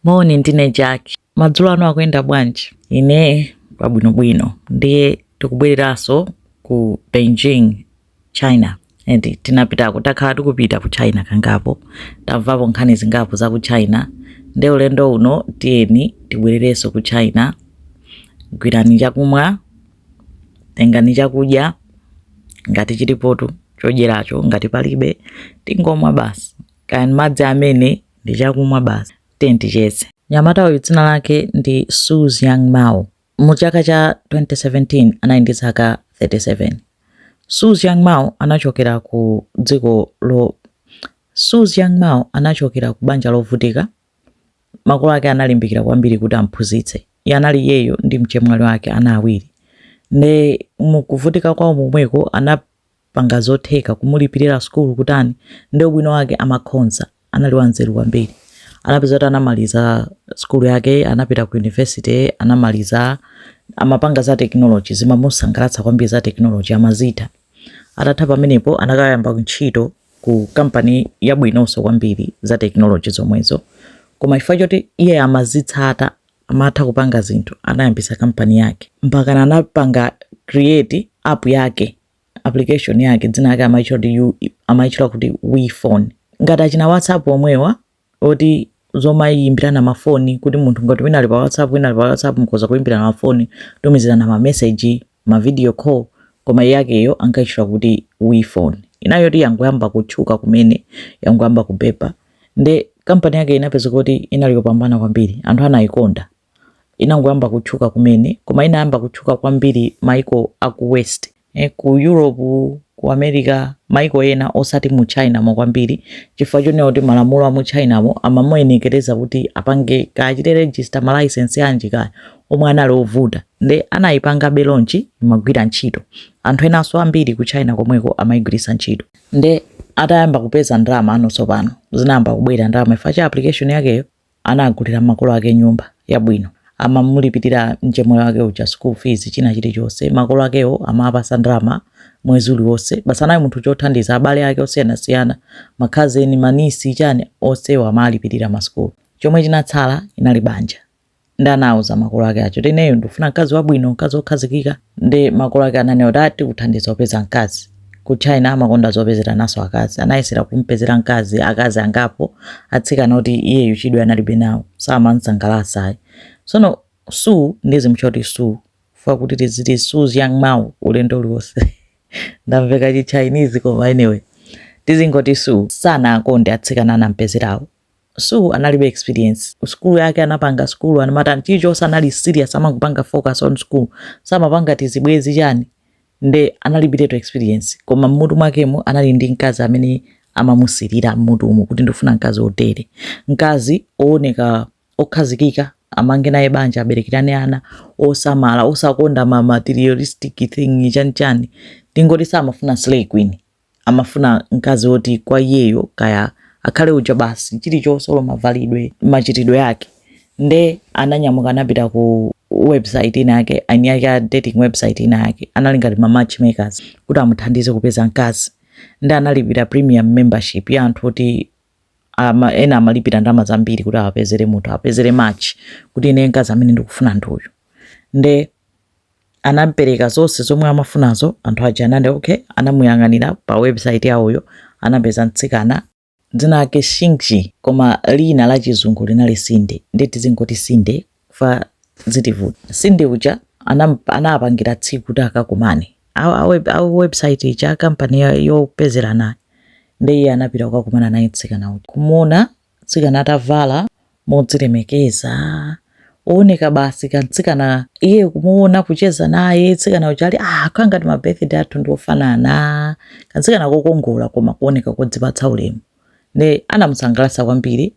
Moni, ndine Jack. Madzulo ano akuyenda bwanji? Ine pabwinobwino. Ndiye tikubwereranso ku Beijing, China. Eti tinapitako, takhala tikupita ku China kangapo. Tamvapo nkhani zingapo za ku China. Ndiye ulendo uno tiyeni tibwererenso ku China. Gwirani chakumwa, tengani chakudya ngati chilipotu chodyeracho, ngati palibe tingomwa basi. Kaya ndi madzi amene ndi chakumwa basi. Tiye ticheze. Mnyamata uyu dzina lake ndi Suz Young Mao. Mu chaka cha 2017 anali ndi zaka 37. Suz Young Mao anachokera ku dziko lo Suz Young Mao anachokera ku banja lovutika. Makolo ake analimbikira kwambiri kuti amphunzitse. Iye anali iyeyo ndi mchemwali wake ana awiri. Nde mukuvutika kwawo momweko ana panga zotheka kumulipirira sukulu kutani nde ubwino wake amakhonza anali wanzeru kwambiri anapeza kuti anamaliza sukulu yake anapita ku university anamaliza amapanga za technology zimamusangalatsa kwambiri za technology amazitha atatha pamenepo anakayamba ntchito ku kampani yabwinonso kwambiri ya technology zomwezo koma chifukwa choti iye amazitsata amatha kupanga zinthu anayambisa kampani yake mpakana anapanga create app yake application yake dzina lake amaitchula kuti u amaitchula kuti we phone ngati achina whatsapp omwewa oti zomayimbirana mafoni kuti munthu ngati wina ali pa whatsapp wina ali pa whatsapp mukhoza kuyimbirana mafoni tumizirana mameseji mavidiyo call koma yakeyo ankaitchula kuti we phone inali yoti yangoyamba kutchuka kumene yangoyamba kubepa nde kampani yakeyo inapezeka kuti inali yopambana kwambiri anthu anayikonda inangoyamba kutchuka kumene koma inayamba kutchuka kwambiri maiko aku west eh, ku europe ku america maiko ena osati mu china mo kwambiri chifukwa chonena kuti malamulo a mu china mo amamuyenekereza kuti apange kachite register malaisensi anji kaya omwe anali ovuta nde anayipanga be launch imagwira ntchito anthu enanso ambiri ku china komweko amayigwiritsa ntchito nde atayamba kupeza ndalama panotsopano zinayamba kubwera ndalama chifukwa cha application yakeyo anagulira makolo ake nyumba yabwino amamulipirira mchemwali wake uja school fees china chilichonse makolo akewo amawapasa ndalama mwezi uliwonse basi anali munthu wothandiza abale ake osiyanasiyana makhazeni manisi chani onsewo amalipirira masukulu chomwe chinatsala inali banja nde anauza makolo ake chchoti ineyo ndikufuna mkazi wabwino mkazi wokhazikika nde makolo ake ananena kuti aa tikuthandiza kupeza mkazi ku china amakonda zopezerananso akazi anayesera kumpezera mkazi akazi angapo atsikana kuti iyeyu chidwi analibe nawo samamsangalatsa ayi tsono su ndizimutchula su chifukwa kuti tiziti su's young mau ulendo uliwonse ndamveka chi chinese koma anyway tizingoti su sanakonde atsikana anampezerawo Su analibe experience ku sukulu yake anapanga sukulu anamati chilichonse anali serious amangopanga focus on school samapanga tizibwezi chani nde analibiretu experience koma mmutu mwakemo anali ndi mkazi amene amamusirira mmutu umu kuti ndifuna mkazi wotere mkazi ooneka okhazikika amange naye banja aberekerane ana osamala osakonda ma materialistic thing chani chani tingoti samafuna slay queen amafuna mkazi woti kwa iyeyo kaya akhale uja basi chilichonse olo mavalidwe machitidwe ake nde ananyamuka anapita ku website ina yake aini yake a dating website ina yake anali ngati ma matchmakers kuti amuthandize kupeza mkazi nde analipira premium membership ya anthu oti ama, ena amalipira ndalama zambiri kuti awapezere munthu awapezere match kuti ine mkazi amene ndikufuna ndi uyu nde anapereka zonse zomwe amafunazo anthu aja anati okay anamuyang'anira pa website yawoyo anapeza mtsikana dzina lake Xinxin koma lina la chizungu linali Cindy nde tizingoti Cindy fa zitivuta Cindy uja anam- anapangira tsiku kuti akakumane Awo- awe- awe website ija kampani yopezeranayi nde iye anapita kukakumana naye mtsikana uja kumuona mtsikana atavala modzilemekeza ooneka basi kamtsikana iye kumuona kucheza naye mtsikana uja ali ah kanga ngati ma birthday athu ndi ofanana kamtsikana kokongola koma kuoneka kodzipatsa ulemu nde anamusangalatsa kwambiri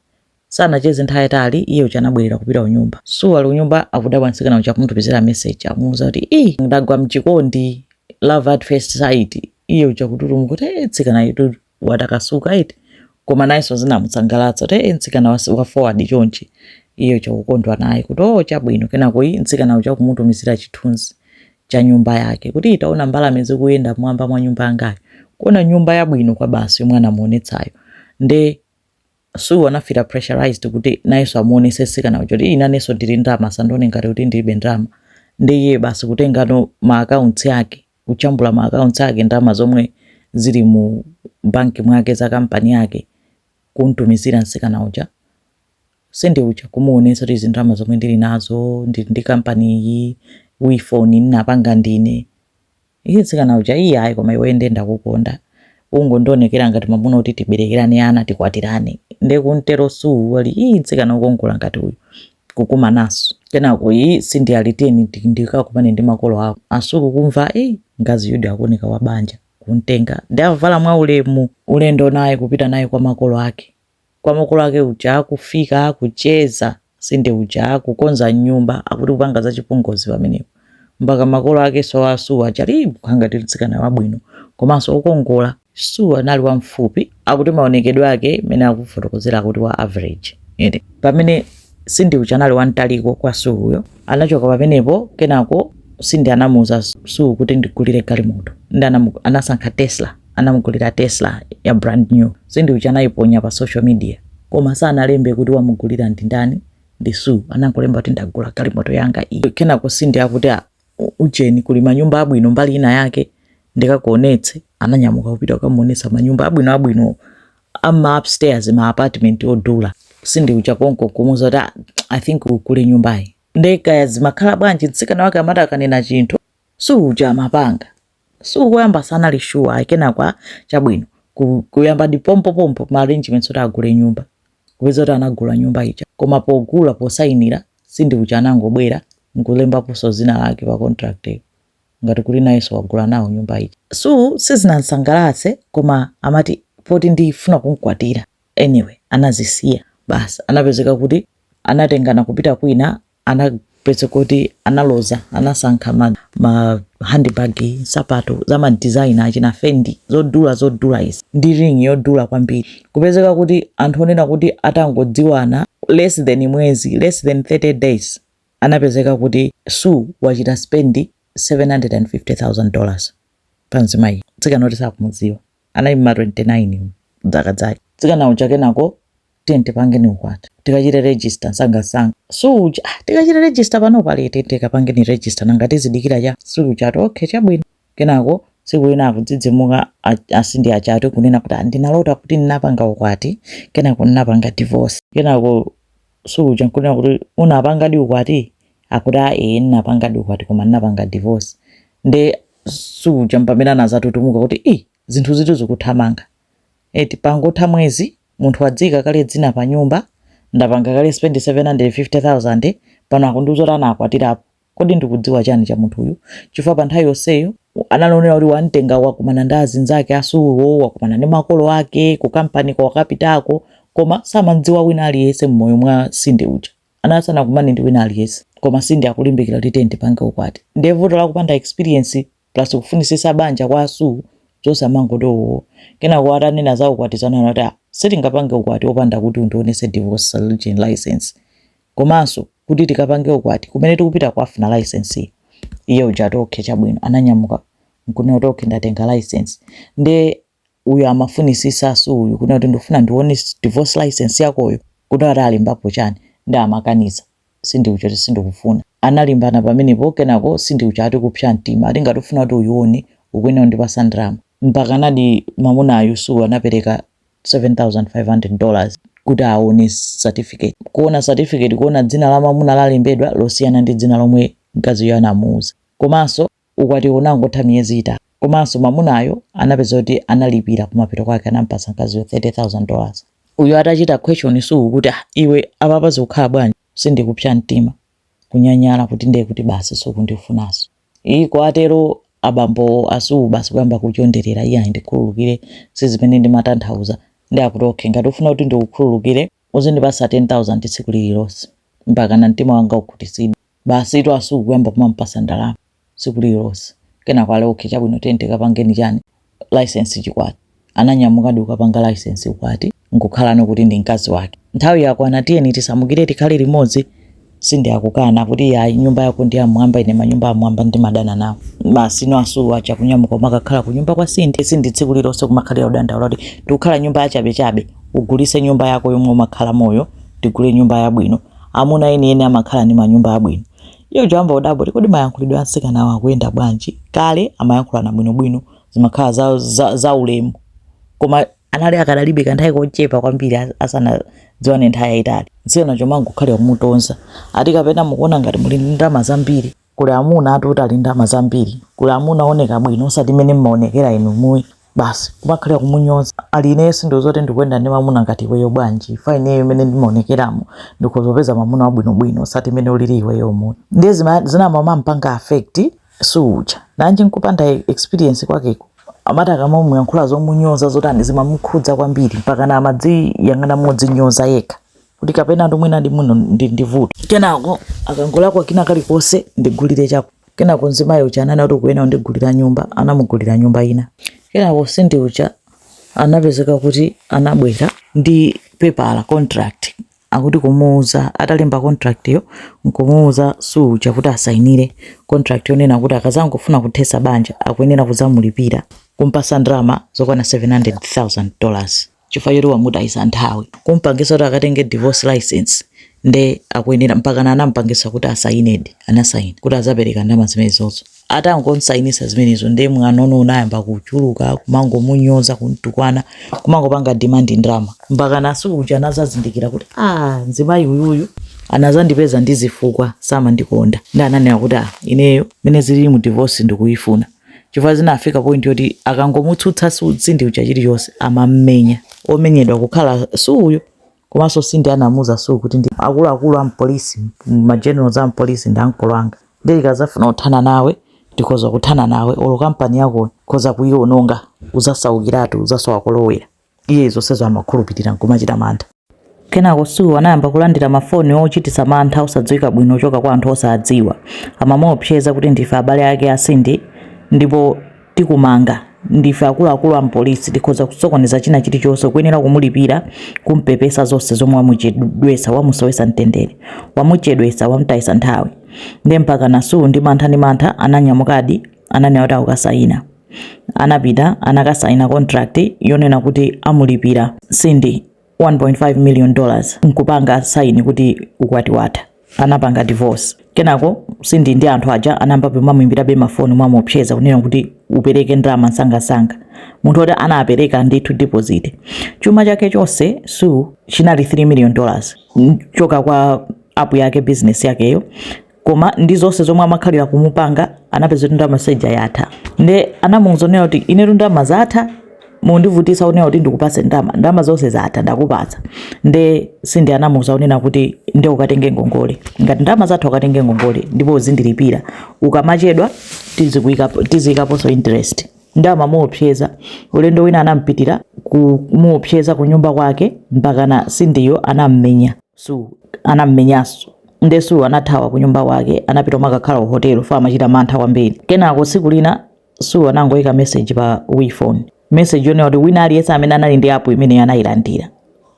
sanacheze nthawi yaitali iye uja anabwerera kupita kunyumba Su ali kunyumba akudabwa mtsikana uja kumutumizira message amuuza kuti i ndagwa mchikondi love at first sight iye uja kututumuka kuti e mtsikanayutu watakasuka eti koma nayenso zinamusangalatsa kuti e mtsikana wa wa forward chonchi iye uja kukondwa naye kuti o chabwino kenako iyi mtsikana uja kumutumizira chithunzi cha nyumba yake kuti taona mbalame zikuyenda mmwamba mwa nyumba yangayo kuona nyumba yabwino kwabasi yomwe anamuonetsayo nde Su anafila pressurized kuti nayenso amuonese mtsikana uja kuti inenso ndili ndalama asandione ngati kuti ndilibe ndalama nde iye basi kutengano ma accounts ake kujambula ma accounts ake ndalama zomwe zili mu bank mwake za company yake kumtumizira msikana uja Cindy uja kumuonesa kuti izi ndalama zomwe ndili nazo ndili ndi company iyi WePhone ndinapanga ndine iye msikana uja iye ayi koma iwe nde ndakukonda ungondionekera ngati mwamuna kuti tiberekerane ana tikwatirane nde kumtero Su ali iyi msikana wokongola ngati uyu kukumananso kenako iyi Cindy ali tiyeni ndikakumane ndi makolo ako a Su kumva e mkazi uyudi akuoneka wa banja kumtenga nde avala mwa ulemu ulendo naye kupita naye kwa makolo ake kwa makolo ake uja akufika akucheza Cindy uja akukonza nyumba akuti kupanga za chipongozi pamenepo mpaka makolo akenso a Sue aja ali kukhala ngati mtsikana wabwino komanso wokongola. Sue anali wamfupi, akuti maonekedwe ake mene akufotokozera akuti wa average eti pamene Cindy uja anali wamtaliko kwa Sue uyo. Anachoka pamenepo kenako Cindy anamuuza Sue kuti ndigulire galimoto ndi anamu- anasankha Tesla anamugulira Tesla ya brand new. Cindy uja anayiponya pa social media koma sanalembe kuti wamugulira ndi ndani ndi Sue anangolemba kuti ndagula galimoto yanga iyi kenako Cindy akuti "Ah, u- ujeni kuli manyumba abwino mbali ina yake ndikakuonetse ananyamuka kupita kukamuonetsa manyumba abwino abwino ama upstairs ma apartment odula Cindy uja konko kumuuza kuti "Ah, i think ugule nyumbayi nde kaya zimakhala bwanji mtsikana wake amati akanena chinthu Sue uja amapanga Sue koyamba sanali sure ayi kenako a chabwino ku- kuyambadi pompopompo ma arrangements oti agule nyumba kupeza kuti anagula nyumba ija koma pogula posayinira Cindy uja anangobwera nkulembaponso dzina lake pa contract iyo ngati kuti nayenso wagula nawo nyumba ija Sue sizinamsangalatse koma amati poti ndifuna kumkwatira anyway anazisiya basi anapezeka kuti anatengana kupita kwina anapezeka kuti analoza anasankha ma, ma handbag nsapato za ma designer achina Fendi zodula zodula izi ndi ring yodula kwambiri, kupezeka kuti anthu onena kuti atangodziwana less than mwezi less than 30 days anapezeka kuti Sue wachita spend 750,000 dollars pa mzimayi mtsikana oti sakumudziwa anali mma 29 zaka zake mtsikana uja kenako tiyeni tipangeni ukwati tikachite register nsangansanga Sue uja ah, tikachite register pano bwa ee tiyeni tikapangeni register nanga tizidikira chani Sue uja ati okay chabwino kenako tsiku lina akudzidzimuka a Cindy aja ati kunena kuti ndinalota kuti ndinapanga ukwati kenako ndinapanga divorce kenako Sue uja nkunena kuti unapangadi ukwati akuti a ee ndinapangadi ukwati koma ndinapanga divorce nde Sue uja mpamene anadzatutumuka kuti i zinthuzitu zikuthamanga eti pangotha mwezi Munthu wadziika kale dzina panyumba, ndapanga kale spendi 750,000, pano akundiuza kuti anakwatirapo. Kodi ndikudziwa chani cha munthuyu? Chifukwa pa nthawi yonseyo anali onena kuti wamtenga wakumana ndi azinzake a Sue-wo, wakumana ndi makolo ake, ku kampaniko wakapitako, koma samamdziwa wina aliyense mmoyo mwa Cindy uja. Anali asanakumane ndi wina aliyense. Koma Cindy akulimbikira kuti tiyeni tipange ukwati. Ndiye vuto la kupanda experience plus kufunitsitsa banja kwa a Sue zosamangoti owoo kenako atanena za ukwati zija anati ah sitingapange ukwati opanda kuti undionetse divorce dissolution licence komanso kuti tikapange ukwati kumene tikupita kukafuna licence-yo iye uja ati okay chabwino ananyamuka nkunena kuti okay ndatenga licence nde uyu amafunisisa Sue uyu kunena kuti ndifuna ndione divorce licence yakoyo kuti ati alembapo chani nde amakaniza Cindy uja kuti sindikufuna analimbana pamenepo kenako Cindy uja ati kupsa mtima ati ngati ufuna kuti uyione ukuyenera kundipasa ndalama mpakanadi mamunayu Sue uyu anapereka 7500 dollars kuti aone certificate kuona certificate kuona dzina la mamuna lalembedwa losiyana ndi dzina lomwe mkaziyo anamuuza komanso Ukwatiwo unangotha miyezi itatu, komanso mamunayo anapeza kuti analipira kumapeto kwake anampasa mkaziyo 30,000 dollars. Uyu atachita question Sue kuti ah iwe apapa zikukhala bwanji Cindy kupsa mtima, kunyanyala kuti ndiye kuti basi sukundifunanso. Iii kutero abambo a Sue basi kuyamba kuchonderera iyayi ndikhululukire sizimene ndimatanthauza. Ndiye akuti okay ngati ufuna kuti ndikukhululukire uzindipasa 10,000 tsiku lililonse mpakana mtima wanga ukhutitsidwe. Basitu a Sue kuyamba kumampasa ndalama siku lililonse kenako ali ok chabwino tiyeni tikapangeni chani licence chikwati ananyamukadi kukapanga licence ukwati nkukhalano kuti ndi mkazi wake nthawi yakwana tiyeni tisamukire tikhale limodzi Cindy akukana kuti yayi nyumba yako ndi yamwamba ine manyumba amwamba ndimadana nawo basi no a Sue aja kunyamuka kumakakhala kunyumba kwa Cindy Cindy tsiku lililonse kumakhalira kudandaula kuti tikukhala nyumba yachabechabe ugulise nyumba yako yomwe umakhalamoyo tigule nyumba yabwino amuna enieni amakhala ndi manyumba abwino. Iye uja kuyamba kudabwa kuti kodi mayankhulidwe a mtsikanawa akuyenda bwanji? Kale amayankhulana bwinobwino, zimakhala za, za, za ulemu. Koma anali akadalibe kanthawi kochepa kwambiri as- asanadziwane nthawi yayitali. Mtsikana uja kumangokhalira kumutonza. Ati kapena mukuona ngati muli ndi ndalama zambiri. Kuli amuna ati oti ali ndalama zambiri, kuli amuna owoneka bwino osati mmene mmaonekera inu muyi basi kumakhalira kumunyoza ali ineyo sindikudziwa kuti ndikuyenda ndi mamuna ngati iweyo bwanji chifukwa ineyo mmene ndimaonekeramo ndikhoza kupeza mamuna wabwinobwino osati mmene ulili iweyomu ndiye zima, zinamampanga affect Sue uja nanji nkupanda experience kwakeko amati akamamuyankhula zomunyoza zotani zimamukhudza kwambiri mpakana amadziyang'ana modzinyoza yekha. kuti kapena ndi mwina ndi muno ndili ndi vuto kenako akangolakwa kina kalikonse ndigulire chako kenako mzimayi uja ananena kuti ukuyenera kundigulira nyumba anamugulira nyumba ina kenako Cindy uja anapezeka kuti anabwera ndi pepala contract akuti kumuuza atalemba contract yo nkumuuza Sue uja kuti asainire contract yonena kuti akazangofuna kuthesa banja akuyenera kuzamulipira kumpasa ndalama zokwana 700,000 dollars chifukwa choti wamutayisa nthawi kumpangisa kuti akatenge divorce license nde akuyenera mpakana anampangisa kuti asayinedi anasayina kuti azapereka ndalama zimenezozo atangomsayinisa zimenezo nde mwanono unayamba kuchuluka kumangomunyoza kumtukwana kumangopanga demand ndalama mpakana a Sue uja anazazindikira kuti ah mzimayi uyuyu anazandipeza ndi zifukwa samandikonda nde ananena kuti ah ineyo mene zililimu divorce ndikuyifuna chifukwa zinafika point yoti akangomutsutsa sindi uja chilichonse amammenya omenyedwa kukhala suuyo komanso sindi anamuza suu kuti ndi akuluakulu a mpolisi magenerals a mpolisi ndi ankolo anga ndikazafuna kuthana nawe ndikhoza kuthana nawe olo kampani yako nkhoza kuiononga uzasaukiratu uzasowa kolowera Iye zonsezo amakhulupirira n'kumachita mantha. Kenako Sue anayamba kulandira mafoni ochititsa mantha osadziwika bwino kuchoka kwa anthu osadziwa. Amamuopseza kuti ndife abale ake a Cindy ndipo tikumanga, ndife akuluakulu a m'polisi, tikhoza kusokoneza china chilichonse, ukuyenera kumulipira, kum'pepesa zonse zomwe wamuchedwetsa, wamusowetsa mtendere, wamuchedwetsa, wamutayitsa nthawi. Ndiye mpakana Sue ndi mantha ndi mantha ananyamukadi. ananena kuti akasayina anapita anakasayina contract yonena kuti amulipira cindy 1.5 million dollars nkupanga saini kuti ukwati watha anapanga divorce kenako cindy ndi anthu aja anayamba kumamuimbirabe mafoni mwamuopseza kunena kuti upereke ndalama nsangasanga mpaka Su anapereka ndithu deposit chuma chake chonse su chinali 3 million dollars choka kwa apu yake business yakeyo koma ndi zonse zomwe amakhalira kumupanga anapeza kuti ndalama zija yatha nde anamuuza kunena kuti inetu ndalama zatha mukundivutitsa kunena kuti ndikupase ndalama ndalama zonse zatha ndakupatsa nde sindi anamuuza kunena kuti nde ukatenge ngongole ngati ndalama zatha ukatenge ngongole ndipo uzindilipira ukamachedwa tizikuikapo- tiziyikaponso interest nde amamuopseza ulendo wina anampitira kumuopseza ku nyumba kwake mpakana sindiyo anammenya Sue anam'menyanso. Ndiye Sue anathawa kunyumba kwake, anapita kumakakhala kuhotelo chifukwa amachita mantha kwambiri. Kenako tsiku lina, Sue anangoika meseji pa We phone, meseji yonena kuti wina aliyense amene anali ndi apu imeneyo anailandira.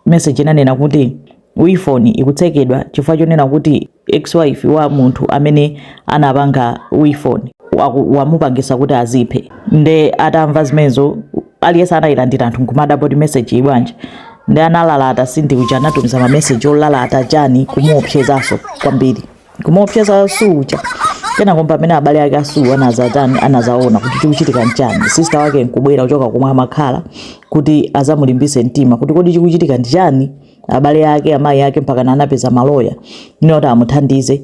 Meseji inanena kuti, We phone ikutsekedwa chifukwa chonena kuti ex-wife wa munthu amene anapanga We phone wamupangisa kuti aziphe. Ndiye atamva zimenezo, aliyense anailandira anthu n'kumadabwa kuti mesejiyi bwanji? nde analalata sindi uja anatumiza mameseji olalata chani kumuopsezanso kwambiri kumuopseza su uja kenako pamene abale ake asu anaza chani anazaona kuti chikuchitika nchani sister wake nkubwera kuchoka kumwe amakhala kuti azamulimbise mtima kuti kodi chikuchitika nchani abale ake amayi ake mpaka anapeza maloya kunena kuti amuthandize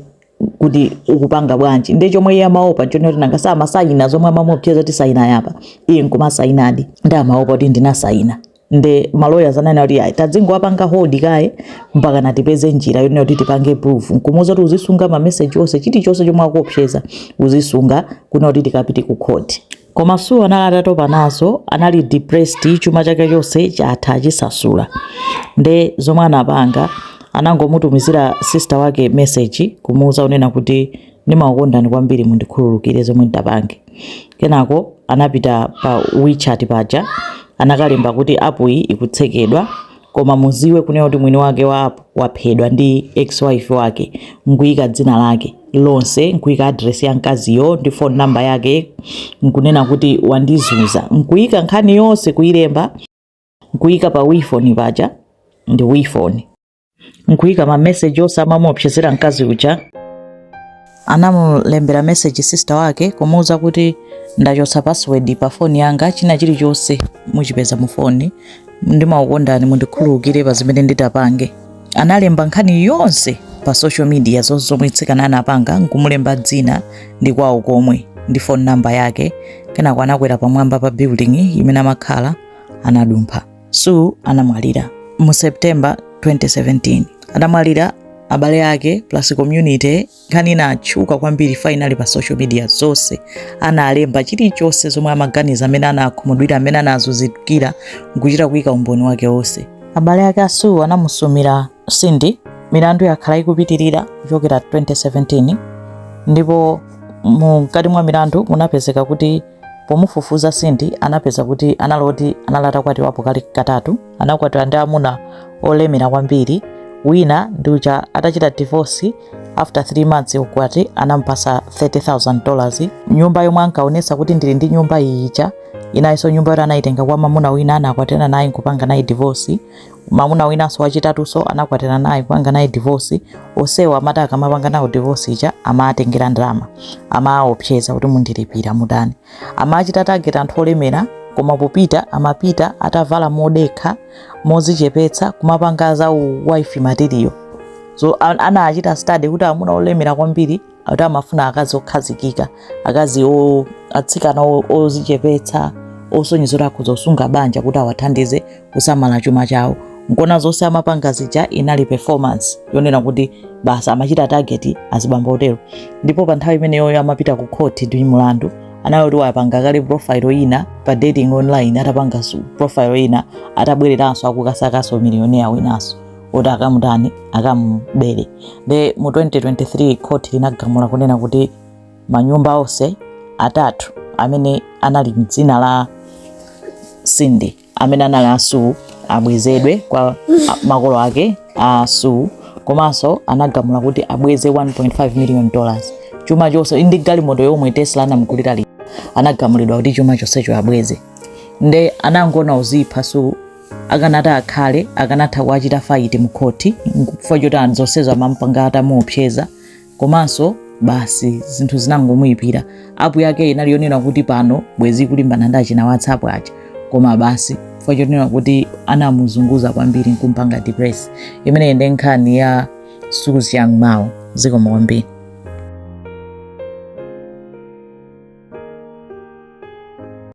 kuti ukupanga bwanji nde chomwe iye amaopa chonena kuti nanga si amasayina zomwe amamuopseza kuti sayina apa iye nkumasayinadi nde amaopa kuti ndinasayina nde maloyers ananena kuti ayi tadzingowapanga hold kaye mpakana tipeze njira yonena kuti tipange proof nkumuuza kuti uzisunga mameseji onse chilichonse chomwe akuopseza uzisunga kunena kuti tikapite ku court koma su anali atatopa nazo anali depressed chuma chake chonse chatha achisasula nde zomwe anapanga anangomutumizira sister wake message kumuuza kunena kuti ndimakukondani kwambiri mundikhululukire zomwe nditapange kenako anapita pa wechat paja anakalemba kuti app iyi ikutsekedwa koma muziwe kunena kuti mwini wake wa app waphedwa ndi ex wife wake nkuyika dzina lake lonse nkuyika address ya mkaziyo ndi phone number yake nkunena kuti wandizunza nkuyika nkhani yonse kuyilemba nkuyika pa wechat paja ndi wephone nkuyika ma message onse amamuopsezera mkazi uja anamulembera message sister wake kumuuza kuti ndachotsa password pa foni yanga china chilichonse muchipeza mu foni ndimakukondani mundikhululukire pa zimene nditapange analemba nkhani yonse pa social media zonse zomwe mtsikana anapanga nkumulemba dzina ndi kwawo komwe ndi phone number yake kenako anakwera pamwamba pa building imene amakhala anadumpha Sue anamwalira mu September 2017. Anamwalira abale ake plus community nkhani inatchuka kwambiri fayinali pa social media zonse analemba chilichonse zomwe amaganiza mmene anakhumudwira mmene anazunzikira nkuchita kuyika umboni wake wonse abale ake a Sue anamusumira Cindy milandu yakhala ikupitirira kuchokera 2017 ndipo mkati mwa milandu munapezeka kuti Pomufufuza Cindy anapeza kuti anali woti anali atakwatiwapo kale katatu. Anakwatiwa ndi amuna olemera kwambiri. Wina ndi uja atachita divorce after 3 months kukwati anamupasa 30,000 dollars. Nyumba yomwe ankaonesa kuti ndili ndi nyumba iyi ija inalinso nyumba yoti anayitenga kwa mamuna wina anakwatirana naye nkupanga naye divorce. mamuna winanso wachitatunso anakwatira naye kupanga naye divorce onsewo amati akamapanga nawo divorce ija amatengera ndalama amaopseza kuti mundilipira mutani amachita target anthu olemera koma popita amapita atavala modekha mozichepetsa kumapanga za wife material so anachita study kuti amuna olemera kwambiri kuti amafuna akazi okhazikika akazi atsikana ozichepetsa osonyeza kuti akhoza kusunga banja kuti awathandize kusamala chuma chawo nkona zonse amapanga zija inali performance yonena kuti basi amachita target azibambo otero ndipo pa nthawi imeneyoyo amapita ku khoti ndi mulandu anali kuti wapanga kale profile ina pa dating online atapanga profile ina atabwereranso akukasakanso millionaire winanso kuti akamutani akamubere nde mu 2023 khoti linagamula kunena kuti manyumba onse atatu amene anali mdzina la Cindy amene anali a Sue abwezedwe kwa makolo ake a Sue komanso anagamula kuti abweze 1.5 million dollars chuma chonse ndi galimoto yomwe tesla anamugulira ija anagamulidwa kuti chuma chonsecho abweze nde anangona kuzipha Sue akanata akhale akanatha kuwachita fayiti mkhoti chifukwa choti anthu zonsezo amampanga atamuopseza komanso basi zinthu zinangomuyipira apu yake inali yonena kuti pano bwezi kulimbana ndi achina whatsapp aja koma basi chifukwa chonena kuti anamuzunguza kwambiri nkumpanga depress imeneyi ndiye nkhani ya suzi yang mao zikomo kwambiri